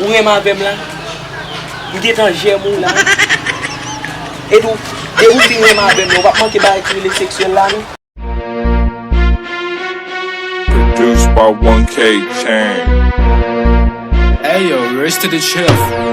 Ou renmen avèm la? M gentan jèm ou la wi. E tou, depi ou fin renmen avèm la, ou pap manke bagay ki rele seksyèl la non. Produced by 1K Chain. Hey yo, Rice to the chef.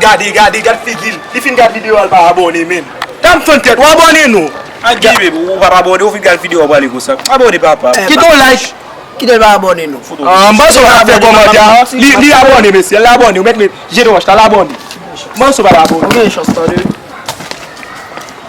Gade gade gad figil li fin gad video a li pa abone menm tanm fann tèt ou abone non ak gee baby ou pap abone ou fin gad video a prale konsa abone papa kite yon like kite li pa abone non an manso pa fe komantè a li abone mesye li abone ou met jete wòch la li abone manso pa abone.